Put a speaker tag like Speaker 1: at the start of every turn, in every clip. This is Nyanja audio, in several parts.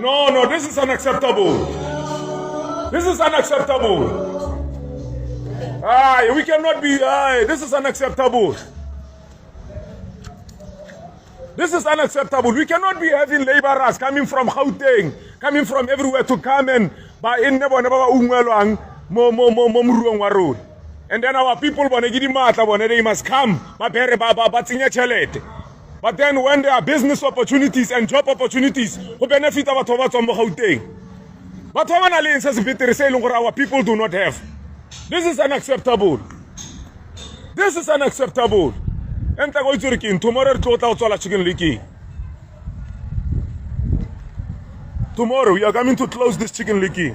Speaker 1: No, no, this is unacceptable. This is unacceptable. Aye, we cannot be, aye, this is unacceptable. This is unacceptable. We cannot be having laborers coming from Gauteng, coming from everywhere to come and buy in nebo nebo ungwelwang mo mo mo mo mruong wa rona. And then our people bone ke di matla bone they must come ba pere ba ba ba tsenya tšhelete. But then when there are business opportunities and job opportunities, go benefit our ba tswang mo Gauteng. Batho ba ba nang le se se betere se e leng gore our people do not have. This is unacceptable. This is unacceptable. And tla go itse king. tomorrow re tlo tla go tswala chicken licking. Tomorrow we are coming to close this chicken licking.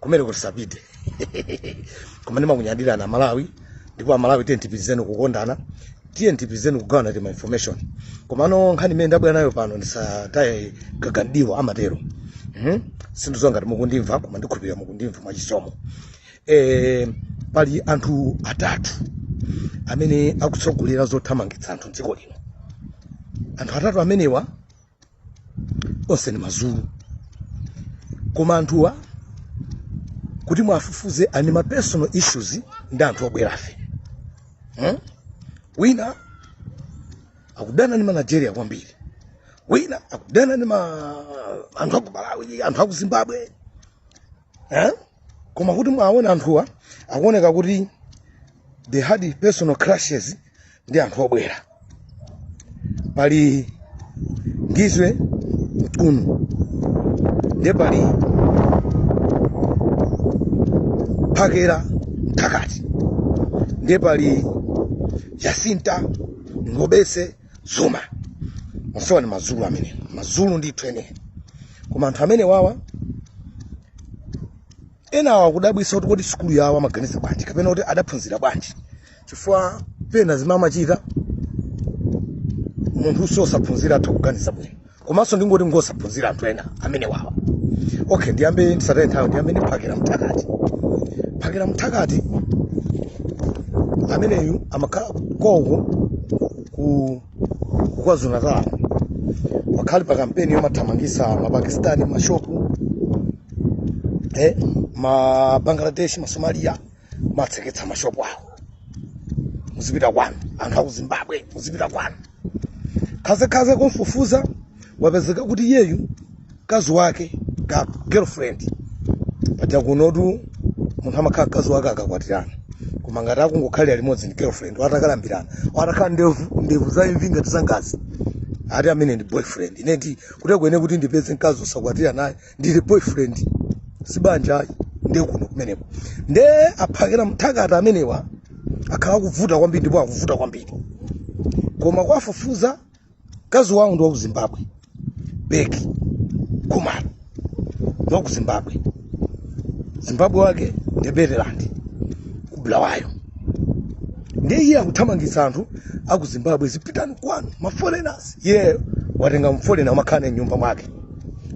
Speaker 2: kumene kuti sapite koma ndimakunyadirani amalawi ndipo amalawi tiyeni tipitirizeni kukondana tiyeni tipitirizeni kugawana tima information komano nkhani imene ndabwera nayo pano ndisataye gaga mdiwa amatero Mhm. sindidziwa ngati mukundimva koma ndikhulupirira mukundimva mwachisomo eh, pali anthu atatu amene akutsogolera zothamangitsa anthu mdziko lino anthu atatu amenewa onse ni mazulu koma anthuwa kuti mwafufuze ali ni ma personal issues ndi anthu obwerafe hmm? wina akudana ni manigeria kwambiri wina akudana ni ma anthu aku malawi anthu aku zimbabwe eh? koma kuti mwaona anthuwa akuoneka kuti they had personal clashes ndi anthu obwera pali ngizwe mchunu ndiye pali phakela mthakathi ndiye pali jacinta ngobese zuma onsewa ni mazulu amene mazulu ndithu eni koma anthu amenewawa enawa akudabwitsa kuti kodi sukulu yawo amaganiza bwanji kapena kuti adaphunzira bwanji chifukwa pena zimamachita munthunso osaphunzira atha kuganiza bwino komanso ndingoti ngosaphunzira anthu ena amenewawa okay ndiyambe ndisataye nthawi ndiyambe ndi phakela mthakathi phakela mthakathi ameneyu amakhala konko ku kwazulu natal wakhala ali pa kampeni yomathamangitsa mapakistani mashopu eh, mabangladesh masomalia matseketsa mashopu awo muzipita kwanu anthu aku zimbabwe muzipita kwanu khazekhaze kumfufuza wapezeka kuti iyeyu mkazi wake ka girlfriend paja kunotu munthu amakhala mkazi wake akakwatirana koma ngati akungokhalira limodzi ndi girlfriend watakalambirana watakhala ndevu ndevu za imvi ngati zangazi ati amene ndi boyfriend ineti kuti akuene kuti ndipeze mkazi osakwatira naye ndili boyfriend sibanja ayi ndiye kuno kumeneko nde aphakela mthakathi amenewa akhala akuvuta kwambiri ndipo akuvuta kwambiri koma kuwafufuza mkazi wawo ndi wa ku zimbabwe beki khumalo ndi wa ku zimbabwe zimbabwe wake ndi matebeleland ku bulawayo ndiye iye akuthamangitsa anthu aku zimbabwe zipitani kwanu maforeigners iyeyo watenga mfolena amakhala naye mnyumba mwake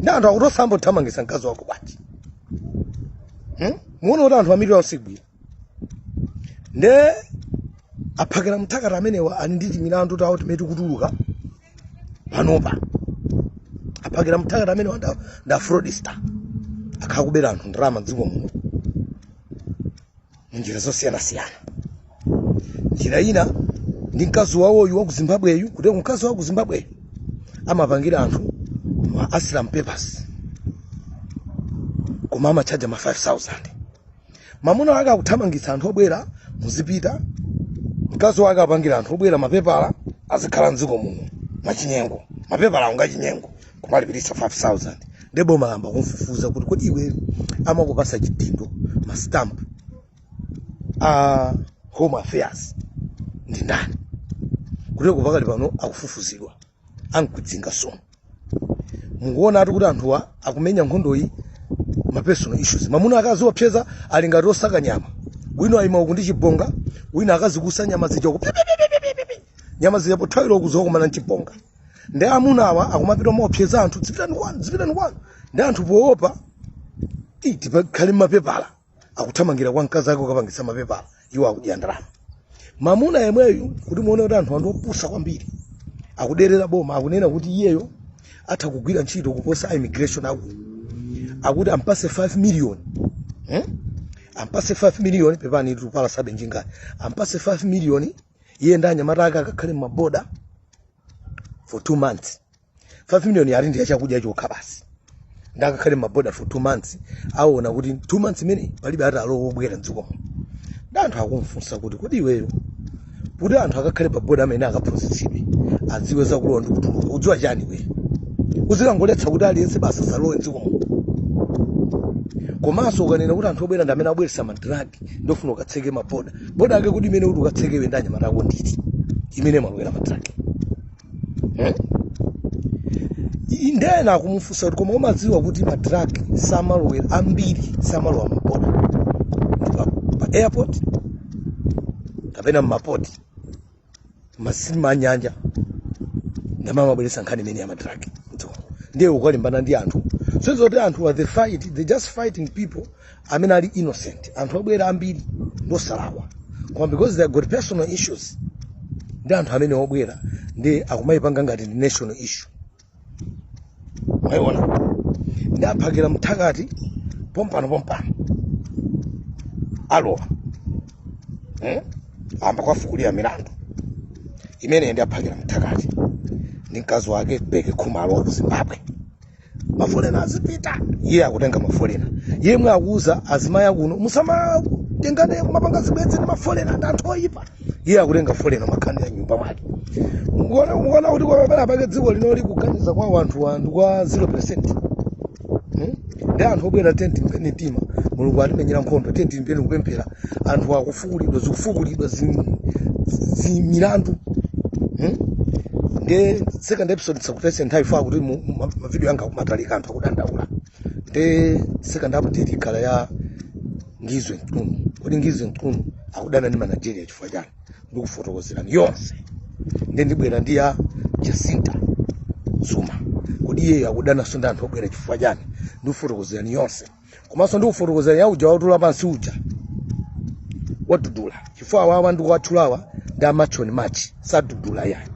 Speaker 2: ndi anthu akuti osayamba wathamangisa mkazi wako bwanji hmm? muona kuti anthu ambiri ausigwira nde a phakela mthakathi amenewa ali ndi timilandu tawo timene tikutuluka panopa a phakela mthakathi amenewa nda, nda fraudster akhala akubera anthu ndalama mdziko muno mu njira zosiyanasiyana njira ina ndi mkazi wawoyu wa ku zimbabweyu kuti mkazi wa ku zimbabweyu amapangira anthu ma asylum papers koma amatchaja ma 5000 mamuna wake akuthamangitsa anthu obwera muzipita mkazi wake apangira anthu obwera mapepala azikhala mdziko muno mwachinyengo mapepala awo ngachinyengo kumalipiritsa 5000 nde boma layamba kumfufuza kuti kodi iwe amakupasa chidindo mastamp a home affairs ndi ndani kuti pakali pano akufufuzidwa ankudzinga sono mukuona ati kuti anthuwa akumenya nkhondoyi ma personal issues mamuna akaziopseza ali ngati osaka nyama wina ayima uku ndi chibonga wina akazikusa nyama zija uku nyama zija pothawira uku zikakumana nchibonga ndi amuna awa akumapita kumaopseza anthu dzipitani kwanu dzipitani kwanu nde anthu poopa ti- tipakhale mapepala akuthamangira kwa mkazi ake kukapangitsa mapepala iwo akudya ndalama mamuna yemweyu kuti muone kuti anthuwa ndi opusa kwambiri akuderera boma akunena kuti iyeyo atha kugwira ntchito kuposa a immigration aku akuti ampase 5 million hmm? ampase 5 million pepani tikupalasabe njingayi ampase 5 million iye ndi anyamata ake akakhale mmaboda for two months 5 million ati ndi yachakudya chokha basi nde akakhale mmaboda for two months aona kuti two months imeneyo palibe ati alowe obwera mdzikomo nde anthu akumfunsa kuti kodi iweyo kuti anthu akakhale paboda amene akaphunzitsidwe adziwe zakulowa ndi kutuluka udziwa chani iweyo uzikangoletsa kuti aliyense basi asalowe mdzikomo komanso ukanena kuti anthu obwera ndi amene abweretsa madragi nde ufuna ukatseke maboda boda yake iti imene uti ukatseke iwe ndi anyamata ako ndi iti imene imalowera madragi nde ena akumufunsa kuti koma umadziwa kuti madragi samalowera ambiri samalowa mmaboda ndi pa, pa airport kapena mmapoti masitima anyanja ndi amene amabweretsa nkhani imene yamadrag ndiye ukalimbana ndi anthu so ndi zokuti anthuwa they fight they just fighting people amene ali innocent anthu obwera ambiri ndi osalakwa koma because they got personal issues ndi anthu amene obwera nde akumayipanga ngati ndi national issue mwaiona ndi a phakela mthakati pompano pompano alowa eh? amba kuwafukulira milandu imene ndi a phakela mthakati ndi mkazi wake beke khumalo wa ku zimbabwe mafolena azipita iye akutenga mafolena yemwe akuuza azimayi akuno musamatengane kumapanga zibwenzi ndi mafolena ndi anthu oyipa iye akutenga folena makhala naye mnyumba mwake mukuona mukuona kuti penapake dziko linoli kuganiza kwa wanthu ndi kwa 0 percent ndi anthu obwera tiyeni tilimbe mtima mulungu atimenyera nkhondo tiyeni tilimbe kupemphera anthu akufukulidwa zikufukulidwa zim- zimilandu hmm? nde second episode ndisakutayitse nthawi chifukwa kuti mu- ma- mavidiyo anga kumatalika anthu akudandaula nde second update ikhala ya ngizwe mchunu kodi ngizwe mchunu akudana ndi ma nigeria chifukwa chani ndikufotokozerani yonse nde ndibwera ndi ya jacinta zuma kodi iyeyo akudananso ndi anthu obwera chifukwa chani ndikufotokozerani yonse komanso ndikufotokozerani ya uja watula pansi uja wa dudula chifukwa awawa ndikuwatchulawa ndi a march and march si a dudula ayi ndi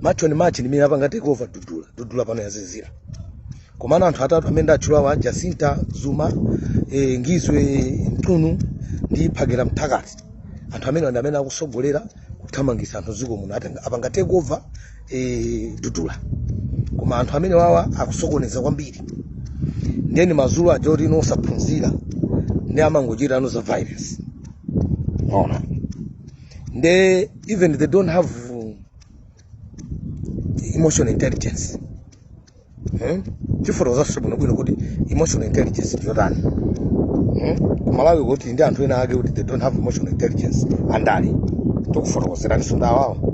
Speaker 2: march and march ndi amene apanga take over dudula dudula pano yazizira komano anthu atatu amene ndatchulawa jacinta zuma e, ngizwe mchunu ndi phakela mthakati anthu amene ndi amene akusogolera kuthamangisa anthu dziko muno Atenga- apanga take over e, dudula koma anthu amenewawa akusokoneza kwambiri nde ndi mazulu aja oti you know osaphunzira ndi amangochita you know za violence mwaona nde even they don't have emotional intelligence hmm? tifotokozanso bwinobwino kuti emotional intelligence ndiyotani hmm? kumalawi kuli ndi anthu ena ake kuti they don't have emotional intelligence andale tikufotokozeraninso ndawawo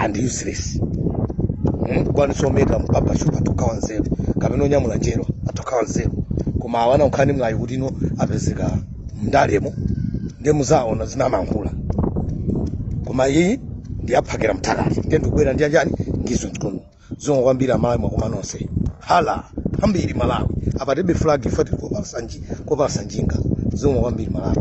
Speaker 2: and useless hmm? kukwanisa ometa mpaka shupa atha kukhala wanzeru kapena onyamula njerwa atha kukhala wanzeru koma awana nkhani mlayi kuti you know apezeka mndalemo ndiye muzaona zimene amankhula koma iyi ndi ya phakela mthakati ndiye ndikubwera ndi anjani ngizwe mchunu zikomo kwambiri amalawi mwakoma nonse hala kwambiri malawi apa tilibe flag chifukwa tili kopalasa nji- kopalasa njinga zikomo kwambiri malawi